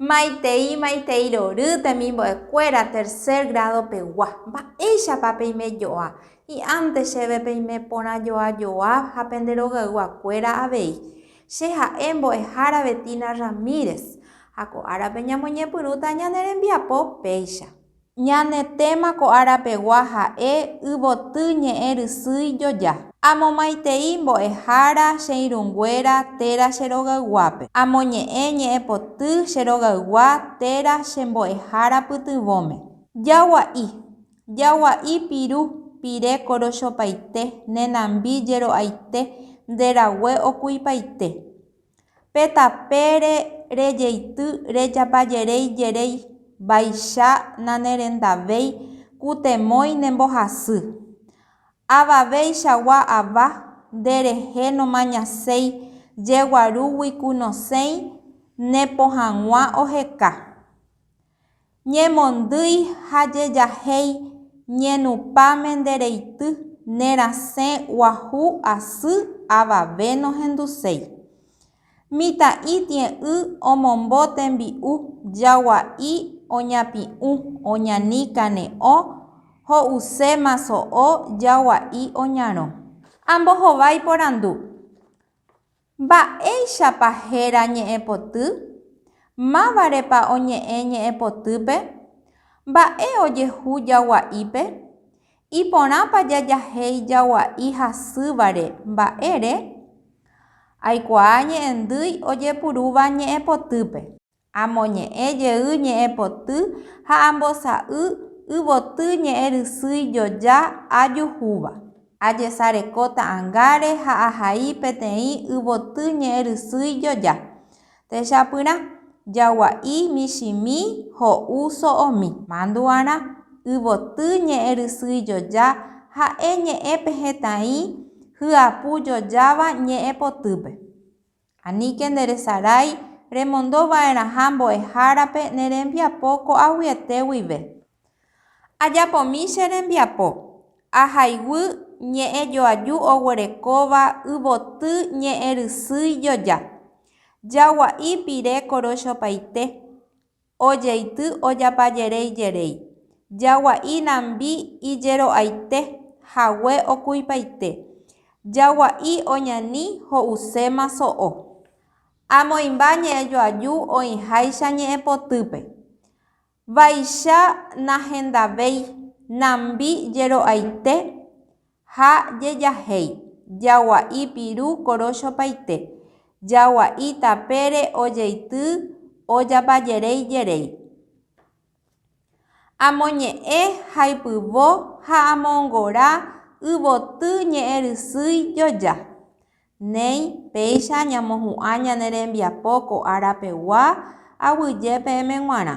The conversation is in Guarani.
Maitei maitei rory temimbo'ekuéra tercer grado pegua. Mba'éichapa peime joa? Hi'ãnte chéve peime porã joa joa ha pende rogayguakuéra avei. Che ha'e mbo'ehára Betina Ramírez ha ko árape ñamoñepyrũta ñane rembiapo péicha. Ñane téma ko árapegua ha'e Yvoty ñe'ẽ rysýi joja. Amomaitei mbo'ehára che irũnguéra téra che rogayguápe. Amoñe'ẽ ñe'ẽpoty che rogaygua téra che mbo'ehára pytyvõme. Jagua'i, jagua'i piru, pire korochopaite, nenambi jero'aite, nde rague okuipaite. Pe tapére rejeity rejapajeréi jeréi, vaicha nanerendavéi kutemói ne mbohasy. Avaveichagua ava, nde rehe nomañaséi jeguarúgui ku nosẽi ne pohãgua oheka. Ñemondýi ha jejahéi ñenupãme nde reity ne rasẽ guahu asy avave nohenduséi. Mitã'i tie'ỹ omombo tembi'u jagua'i oñapi'ũ oñani kane'õ ho'use maso'o jagua'i oñarõ. Ambohovái porandu. Mba'éichapa héra ñe'ẽpoty? Mávarepa oñe'ẽ ñe'ẽpotýpe? Mba'e ojehu jagua'ípe? Iporãpa jajahéi jagua'i hasývare mba'ére? Aikuaa ñe'ẽndýi ojepurúva ñe'ẽpotýpe. Amoñe'ẽ jey ñe'ẽ poty ha ambosa'y yvoty ñe'ẽ rysýi joja ajuhúva. Ajesareko ta'angáre ha ahai peteĩ yvoty ñe'ẽ rysýi joja. Techapyrã, jagua'i, michĩmi, ho'u, so'omi. Mandu'arã, yvoty ñe'ẽ rysýi joja ha'e ñe'ẽ pe hetãi hyapu jojáva ñe'ẽ potýpe. Aníke nderesarái remondo va'erãha mbo'ehárape ne rembiapo ko'aguyete guive. Ajapomi che rembiapo, ahayguy ñe'ẽ joaju oguerekóva yvoty ñe'ẽ rysýi joja, jagua'i pire korochopaite, ojeity ojapajereijerei, jagua'i nambi ijero'aite hague okuipaite, jagua'i oñani ho'uséma so'o. Amoĩmba ñe'ẽjoaju oĩháicha ñe'ẽpotýpe. Vaicha nahendavéi nambi jero'aite Ha jejahéi, jagua'i piru korochopaite, jagua'i tapére ojeity ojapajeréi jeréi. Amoñe'ẽ haipyvo ha amongora yvoty ñe'ẽrysýi joja. Néi, péicha ñamohu'ã ñane rembiapo ko ára pegua, aguyje peẽme g̃uarã.